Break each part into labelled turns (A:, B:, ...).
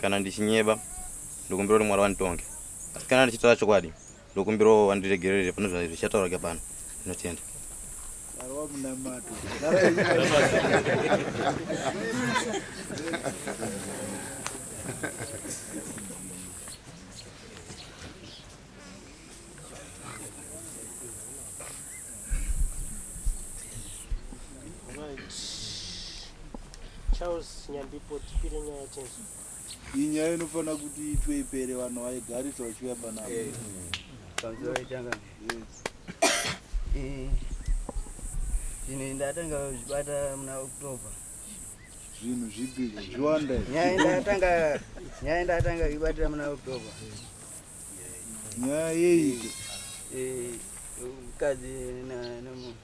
A: Kana ndichinyeba ndokumbira kuti mwari vanditonge asi kana ndichitaura chokwadi ndokumbirawo vandiregerere pane zvichataura ke pano ndinotenda
B: Charles Nyambipo tipire nyaya chenzo. Inyaya
C: inofanira kuti itwe ipere vanhu vaigarisa vachiuya panapa. Eh. Panzira
D: itanga. Yes. Eh. Zvinhu ndatanga kuzvibata muna October. Zvinhu
C: zvipi zviwanda. Nyaya ndatanga
D: nyaya ndatanga kuibatira muna October.
C: nyaya yeiko eh, mukadzi
D: nemunhu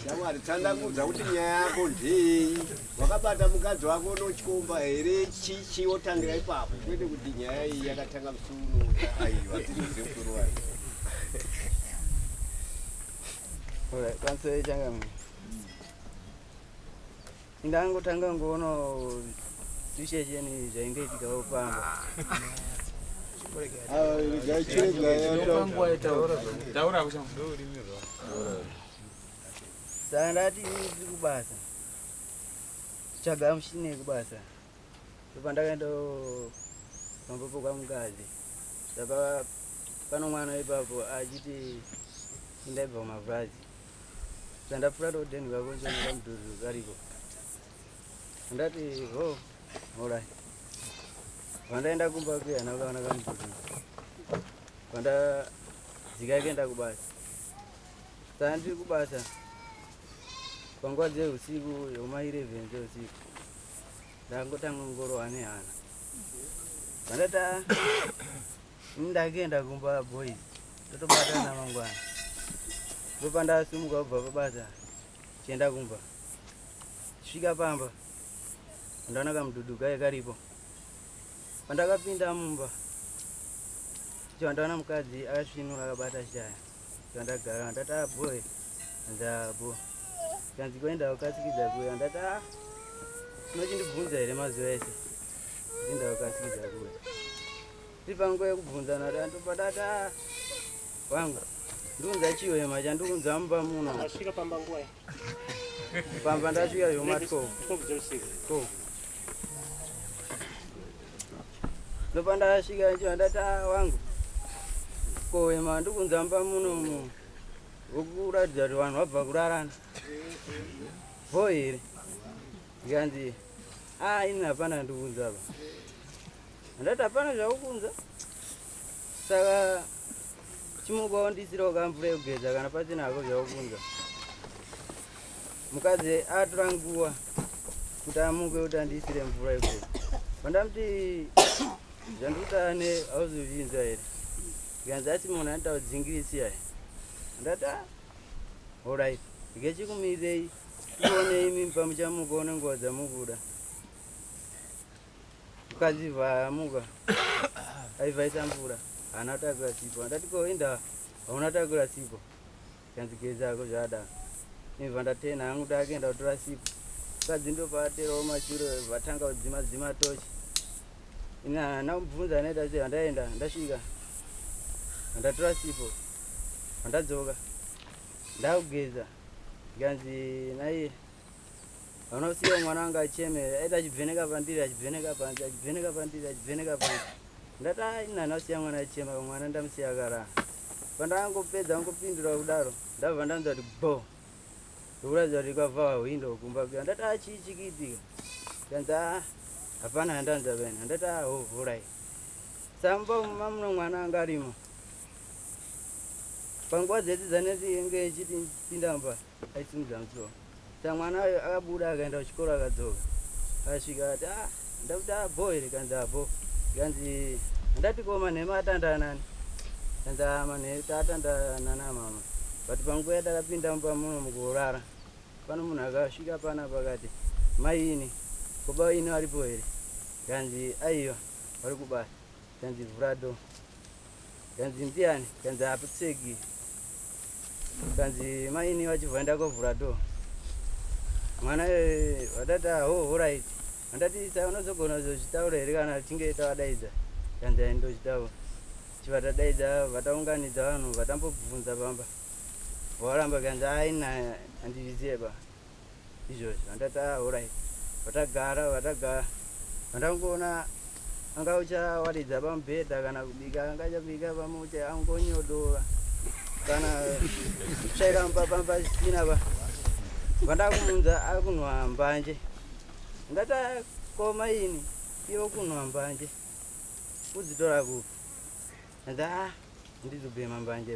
E: shamwari tsanangudza kuti nyaya yako ndei wakabata mukadzi wako unochikomba here chichi wotangira ipapo kwete kuti nyaya iyi yakatanga musuno aiwa tinoziva mukuru wayo
D: All right, that's it, Ndangotanga ngoona zvishesheni zvainge ichigavo pamba. Saka ndati ndiri kubasa. Chaga mushini yekubasa. Ndopandakaenda pamba pokwa mukadzi. Saka pano mwana ipapo achiti indaibva kumabhazi. Chandapfuura roden kako chonera mudhuri kariko. Ndati ho horai. Vandaenda kumba kuya nakaona kamudhuri. Vanda dzika yakaenda kubasa. Saka ndiri kubasa panguva dzeusiku yoma 11 dzeusiku ndangotanga ngorowa nehana vandati Ndakaenda kumba boys totobatana mangwana ndopandasimuka kubva pabasa chienda kumba svika pamba ndaona kamududu kaye karipo pandakapinda mumba icho ndaona mukadzi akasvinura akabata shaya ndagara ndati ah, boy ndabo kanzi kuenda kukasikidza kuya ndati ah, unochindibvunza here mazuva ese ndinda kukasikidza kuya Ndipanguva yekubvunzana danto padata wangu ndiunza chiwema chandiunza mumba muno asvika pamba nguva pamba ndasvika zvoma 12 ndopandasvika chiva ndati ah, wangu kowema ndikunza mumba muno mu vokuratidza kuti vanhu vabva kurarana vo here ndikanzi a ah, ini hapana ndikunzava Handati hapana zvakukunza saka chimuka wandisirawo ka mvura yekugeza kana pasina hako zvakukunza mukadzi atora nguva kuti amuke kuti andisire mvura yekugeza vandamuti zvandikutane hauzozvinzwa here ikanzi asi munhu anotaura dzingirisi yaye ndata horit ngechikumirei tione imi pamuchamuka unenguva dzamukuda Mukadzi vamuka aivaita mvura haana takura sipo andati koenda hauna takura sipo kanzi gezako zvada imva ndatena hangu ndaakaenda kutora sipo mukadzi ndopaaterawo mashure vatanga kudzima dzima tochi ini haana kubvunza anaita sei handaenda ndasvika handatora sipo handadzoka ndakugeza ndikanzi naiye vanosiya mwana wanga acheme aita achibveneka pandiri achibveneka panzi achibveneka pandiri achibveneka panzi ndati aina ndasiya mwana achema mwana ndamusiya akaraa pandangopedza angopindura kudaro ndabva ndanzi ati bo ndokuratidza kuti kwavhaa hwindo kumba kuya ndati achii chikiitika kanzi a hapana handanzi apena ndati aho vhurai samba mamuno mwana anga arimo panguva dzedzi dzaneti inge ichiti pinda mubasa aisimudza musoro sa mwana ayo akabuda akaenda kuchikoro akadzoka akasvika akati ah ndakuti abo here kanzi abo kanzi handati ko manhema atanda anani kanzi ah manhema tatanda nana mama but panguva yatakapinda mumba muno mukurara pano munhu akasvika pana pakati mai ini ko baba ini varipo here kanzi aiwa vari kubasa kanzi vhura do Kanzi ndiani? Kanzi hapapfeki. Kanzi maini vachibva vaenda kovhura door. Mwana eh, vatati ah, ho horaiti. Handati sa unozogona kuzozvitaura here kana tichinge tavadaidza? Kanzi hai ndochitaura. Chivatadaidza vataunganidza vanhu vatambobvunza pamba. Varamba kanzi haina handizvizive ba. izvozvo handati aorit ah, vatagara vatagara vandangoona anga uchawaridza pamubhedha kana kubika anga chabika pamucha angonyodora kana tsvaira mupapamba china pa vandakumunza akunwa mbanje ndati akoma ah, ini iyo kunwa mbanje kudzitora kupi nda ah, ndizobhema mbanje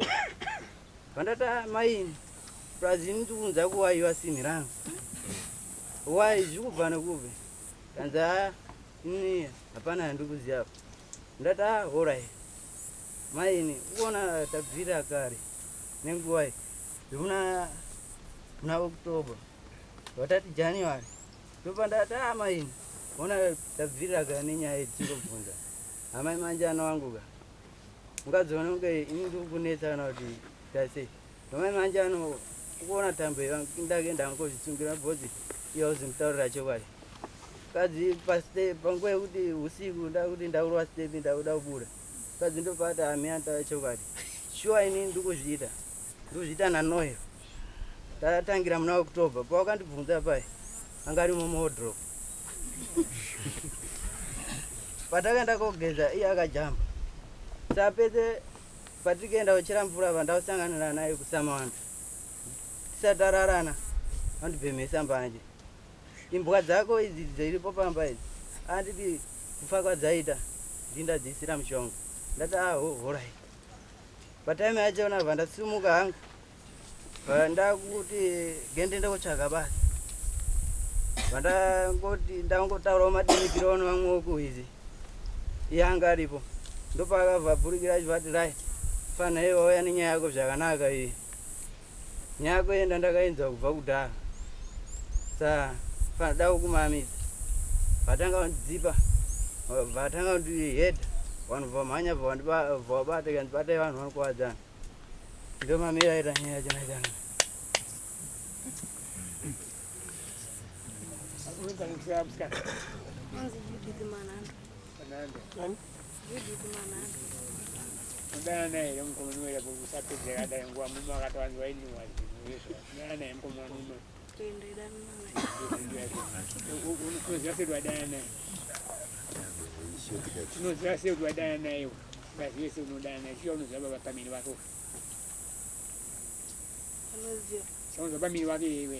D: Pandata mai plus ini ndikuunza kuwaiwa simi rangu wai zvikubva nekupi kanzi haa ini hapana yandikuziva apa ndati a ah, horai maini ukuona tabvira kare nenguvai zvekuna kuna october vatati january ndopa ndati a ah, maini ona tabvirira kare nenyaya yedzi ndobvunza amai manje anowanguka Mukadzi vanonge ini ndiri kunetsa kana kuti tase nomai manje ano ukuona tambo ndake ndangozvitsungira bhozi iyo auzimutaurira chokwadi mukadzi pastep panguva yekuti usiku ndakuti ndaurwa step ndakuda kubuda mukadzi ndopati amiyantava chokwadi shuwa ini ndiri kuzviita ndozviita nanoyo tatangira muna october pawakandibvunza paye anga ari mumodrop patakaenda kogeza iye akajamba sapedze patikaenda kuchera mvura vandausanganira naye kusamawandu tisatararana andibhemhesa mbanje imbwa dzako idzi dziripo pamba idzi anditi kufa kwadzaita ndindadziisira mushonga ndati aho ah, horai Patime yacho ndabva ndasimuka hangu ndakuti gende ndokutsvaga basa vandangoti ndangotaurawo madimikiro ono vamwe okuhizi iye anga aripo ndopaakavabhurikira achivati right fana iye wauya nenyaya yako zvakanaka iyi Nyaya kuenda ndakainzwa kubva kudhara sa padawo kumamisa vatanga vandidzipa vatanga vandihedha vanhu vamhanya vavabata kandibatai vanhu vanokuvadzana ndomamira ita nyaya chana chana Thank you.
F: tinoziva sei
G: kuti
F: vadana naye ngazive sei unodana naye chiya unoziva baba pamiri vako
G: chaunoziva pamiri
F: vake iwe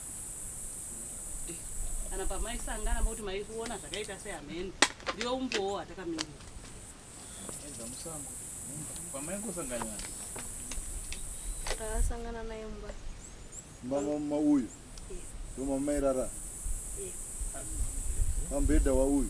H: kana pamaisangana mokuti maikuona zvakaita seamheni ndiyo umbowo atakamirira
I: pamaingosangana
J: takasangana naye mumba
G: mama
J: mama uyu ndo mama mairara pambhedha wauyu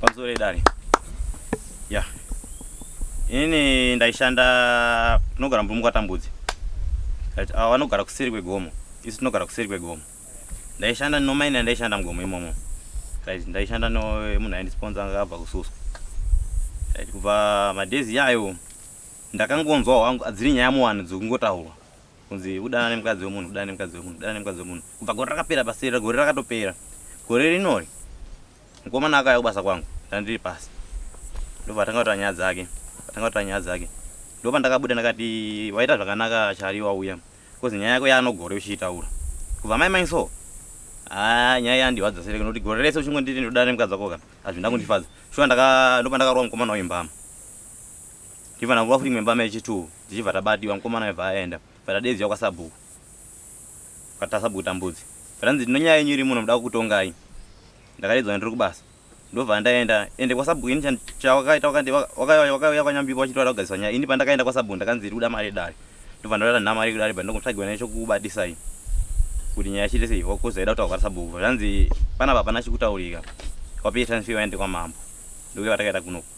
A: Pamusoro edare. Yeah. Ini ndaishanda tinogara mubhumu kwatambudzi. Right. Ava vanogara kuseri kwegomo. Isu tinogara kuseri kwegomo. Ndaishanda nomaina ndaishanda mugomo imomo. Right. Ndaishanda no munhu aindisponsor akabva kususwa. Right. Kubva madezi yayo ndakangonzwa wangu adziri nyaya muwani dzokungotaurwa. kunzi kudana nemukadzi wemunhu kudana nemukadzi wemunhu kudana nemukadzi wemunhu kubva gore rakapera paseri gore rakatopera gore rinori mukomana akauya kubasa kwangu ndandiri pasi ndobva atanga kutaura nyaya dzake atanga kutaura nyaya dzake ndopa ndakabuda ndakati waita zvakanaka chari wauya bcause nyaya yako yaanogore uchiitaura kubva mai mai so haa ah, nyaya yandiwadza sereke nokuti gore rese uchingonditi ndodana nemukadzi wako ka hazvina kundifadza shuwa ndopa ndakarova mukomana uyu mbama Tivana nguva futi imemba mechi two tichibva tabatiwa mukomana aibva aenda bva tadeedzwa kwasabhuku kwata sabhuku tambudzi zvanzi ndinonyaya yenyu iri muno muda kukutongai ndakadeedzwa ndiri kubasa ndobva ndaenda ende kwasabhuku ini chawakaita wakauya kwanyambikwa wachiti wada kugariswa nyaya ini pandakaenda kwasabhuku ndakanzi iri kuda mari yedare ndobva ndorata nhama iri kudare bva ndongotsvagiwa naye chokubatisai kuti nyaya chite sei wakuzoida kutaurwa sabhuku zvanzi panapa hapana chikutaurika wapei transfer waende kwamambo ndokuya vatakaita kunoku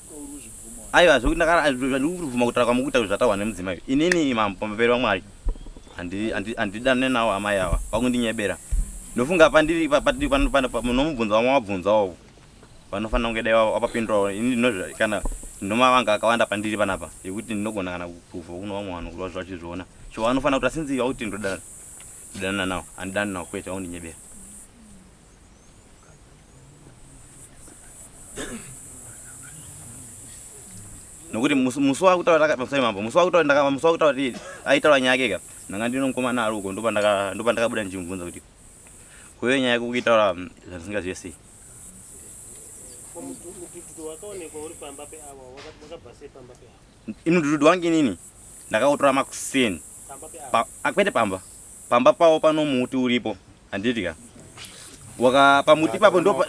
A: aiwa zvandikubvuma kutaura kwamukuita kuzvataurwa nemudzimai inini mambo pamberi vamwari handidane nawo amai ava vakundinyebera ndofunga pandiri nomubvunzo vamwe wabvunzawo vanofanira kunge dai wapapindurawo ini ndinozva kana ndinomavanga akawanda pandiri panapa yekuti ndinogona kana kupruvha kuno vamwe vanhu kuti vazvachizviona so vanofanira kuti asinzi vakuti ndodana ndodana nawo handidani nawo kwete vakundinyebera nokuti musi wakutaura ndakapamsai mambo musi wakutaura ndakapa musi wakutaura kuti aitaura nyaya yake ka ndanga ndino mukomana ari uko ndopa ndaka ndopa ndakabuda ndichimubvunza kuti kuve nyaya yako kuitaura mm, zvandisingazive sei ino dududu wange inini ndakautora makuseni kwete pamba pamba pavo pano muti uripo Handiti ka. Waka pamuti papo ndo pa.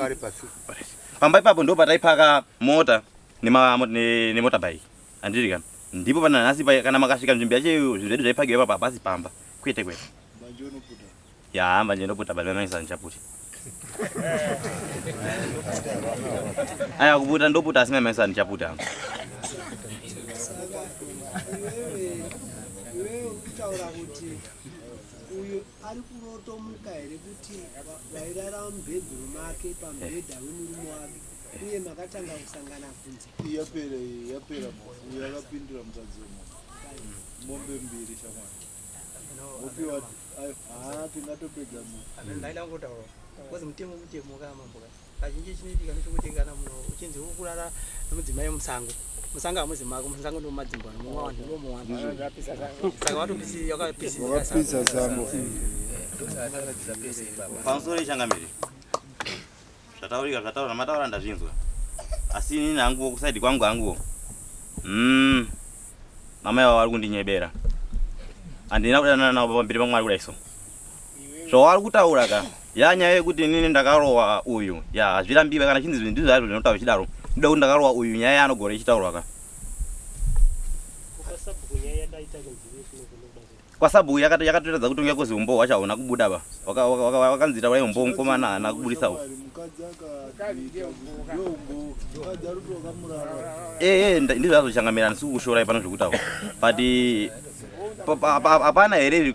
A: Pamba ipapo ndo pataipaka mota nema ne, ne motorbike. Handiti ka. Ndipo pana nhasi kana makasvika nzvimbo yacho zvinhu zvedu zvaipakiwa ipapo hapasi pamba. Kwete kwete. Manje unoputa. Ya, manje ndoputa baba maisa ndichaputi. Aya kuputa ndoputa asi maisa ndichaputa. Wewe ukitaura kuti uyu
B: ari kurotomuka here kuti vairara mubhedhuru make pamubhedha wemurume wake uye makatanga kusangana kunze yapera yapera
J: uyo akapindura mukadzi wemunhu mombe mbiri shamwari opiwa haa tingatopedza munhu ndaidangotaura
D: bcause mutemo mutemo kaa mambo kaa kazhinji chinoitika ndechekuti kana munhu uchinzi ukurara nemudzimai musango musango hamuzi mako musango ndomumadzimbo nomuwanhu ndomuwanhu saka
J: watopisizakapisa sango
A: pamusoro yechangamire zvataurika zvataura mataura ndazvinzwa asi inini hanguvo kusaidi kwangu hanguvo mm. mama yavo vari kundinyebera handina kudanana navo pamberi pamwari kudai so Zvawari kutaura ka? Ya nyaya yekuti inini ndakarowa uyu. Ya hazvirambiwe kana chinzi ndizvo hazvo zvinotaura chidaro. Ndida kuti ndakarowa uyu nyaya anogora ichitaurwa ka? kwasabu yakatoratidza kuti unge kuzi umbo hwacho hauna kubuda ba wakanzi taurai umbo mukomana haana kubudisa u ee ndizvo zvazochangamirana sikukushorai pano zvekutaura but hapana here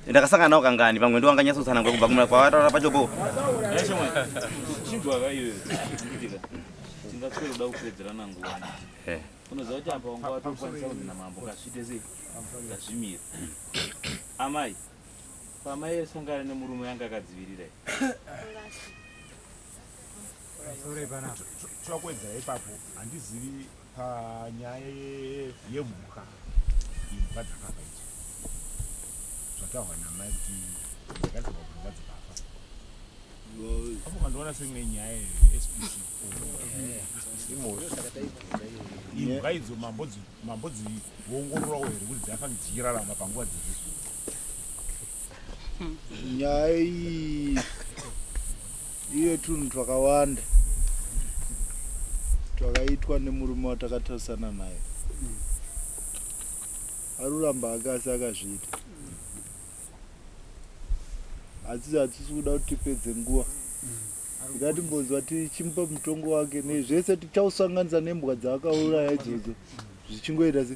A: ndakasangana nawo kangani pamwe ndo wanganyatsotsanangwa kubva kumura kwavataura pacho po unoziva
I: kuti apa wanga watokwanisa kuti namambo kasvite sei ngazvimira amai pamai esangana nemurume yanga akadzivirira
K: twakwedzera ipapo handizivi Panyaya yemhuka imhuka dzakafa idzo zvataurwa namai kuti dzakadzirwa kumba dzikafa apo kandiona seimwe nyaya spc imhuka idzo mambo dziongororawo here kuti dzafa dzichirarama panguva dziri nyaya
J: iyi Iye tunhu twakawanda twakaitwa nemurume watakatarisana naye aruramba hake asi akazviita asi hatisi kuda kuti tipedze nguva ngatimbonzwa tichimupa mutongo wake nezvese tichausanganisa nembwa dzaakauraya idzodzo zvichingoita se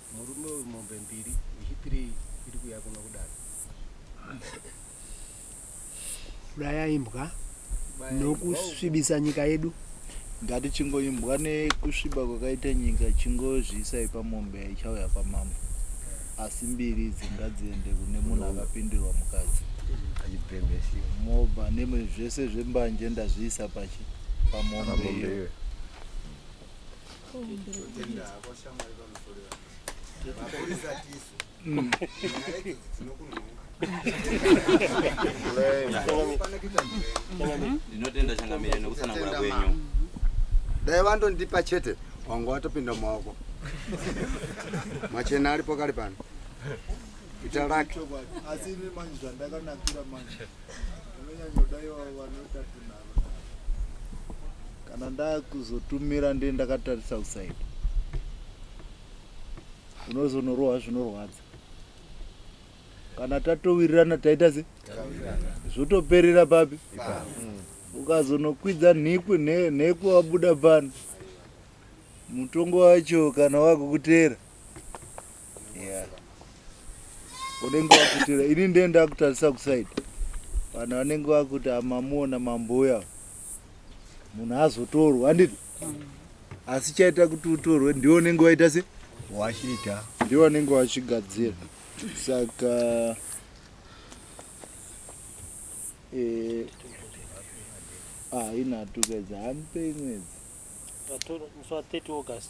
D: Murume uyu mombe mbiri yechipiri iri kuya kuno kudaro.
B: Uraya imbwa Baya imbwa uko. nokusvibisa nyika yedu. ngatichingoimbwa
J: nekusviba kwakaita nyika chingozviisai pamombe yaichauya kwamambo asi mbiri idzi ngadziende kune munhu akapindirwa mukadzi achibhembesiwa mobva neme zvese zvembanje ndazviisa pachi pamombe pamombe iyo iyoyo
A: ndinotenda changamire nekusanangura kwenyu dai
L: vandondipa chete wanga watopinda mumaoko machena aripo kari pano ita lake asi ini manje
J: zvandakanakira manje kana ndakuzotumira ndiye ndakatarisa usaidi unozonorohwa zvinorwadza kana tatowirirana taita se zvotoperera papi ukazonokwidza nhikwi nhekwi wabuda pano mutongo wacho kana wakukuteera Yeah. Unenge wakutira ini ndiye ndakutarisa kuside. Vanhu vanenge vakuti amamuona mambuya. Munhu azotorwa handiti? Mm. Asi chaita kuti utorwe ndiwo unenge waita se wachiita.
E: Ndiwo unenge
J: wachigadzira. Saka eh ah ina tukeza hampe imwedzi. Pator,
M: so 30 August.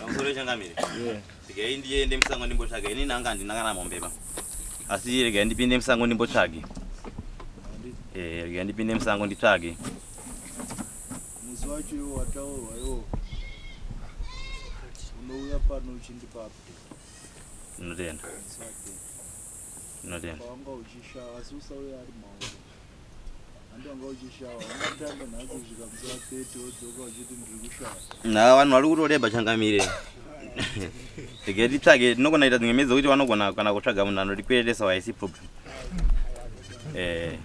A: Pamusoro changamire. Regai ndiende musango ndimbotsvaga. Ini nanga handina kana mombe ba. Asi regai ndipinde musango ndimbotsvage. Eh, regai ndipinde musango nditsvage.
J: Muzi wacho iwo wataurwa iwo. Unouya pano uchindipa update. Ndinotenda.
A: Ndinotenda. Wanga uchishaya
J: asi usauya ari mauri. na vanhu vari kutoreba
A: changamire rege titsvage tinogona ita dzimwe medzo kuti vanogona kana kutsvaga munhu anotikweretesa waisi problem
J: eh.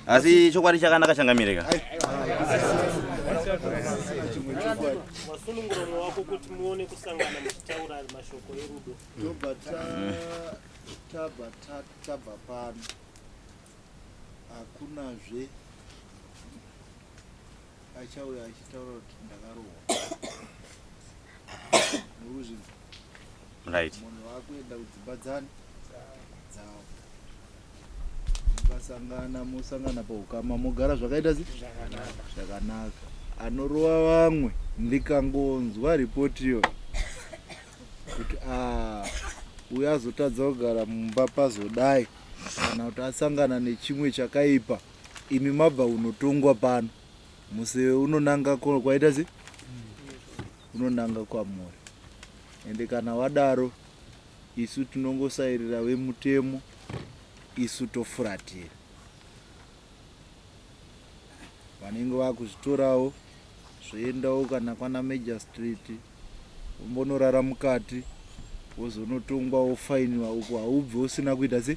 A: asi chokwadi chakanaka changamireka
M: kwerudo tobva
J: tabva tabva pano hakunazve achauya achitaura kuti ndakarohwa right munhu wakuenda kudzimba dzani dzavo Mukasangana mosangana paukama mogara zvakaita zvakanaka. Anorova vamwe ndikangonzwa ripoti iyo kuti ah, uyo azotadza kugara mumba pazodai kana kuti asangana nechimwe chakaipa imi mabva unotongwa pano muse unonanga kwaita se unonanga kwamuri ende kana wadaro Isu tinongosairira vemutemo isu tofuratira. Vanenge vakuzvitorawo zvoendawo kana kwana Major Street umbonorara mukati wozonotongwa wofainiwa uko haubve usina kuita se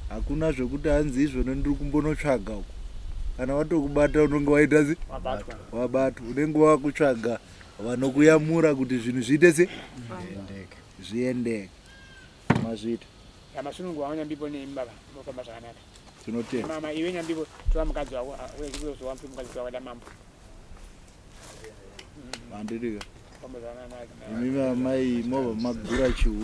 J: hakuna zvekuti hanzi izvona ndiri kumbonotsvaga uko kana vatokubata unenge waita se wabatwa unenge wakutsvaga vanokuyamura kuti zvinhu zviite se zviendeke mazvita yamasunungu
F: wavo nyambipo nemi baba mofamba zvakanaka tinotenda mama
J: iwe nyambipo
F: tora mukadzi wako uzowa mpi mukadzi wako damambo
J: mandirika mm. imi vamai mova magura chihu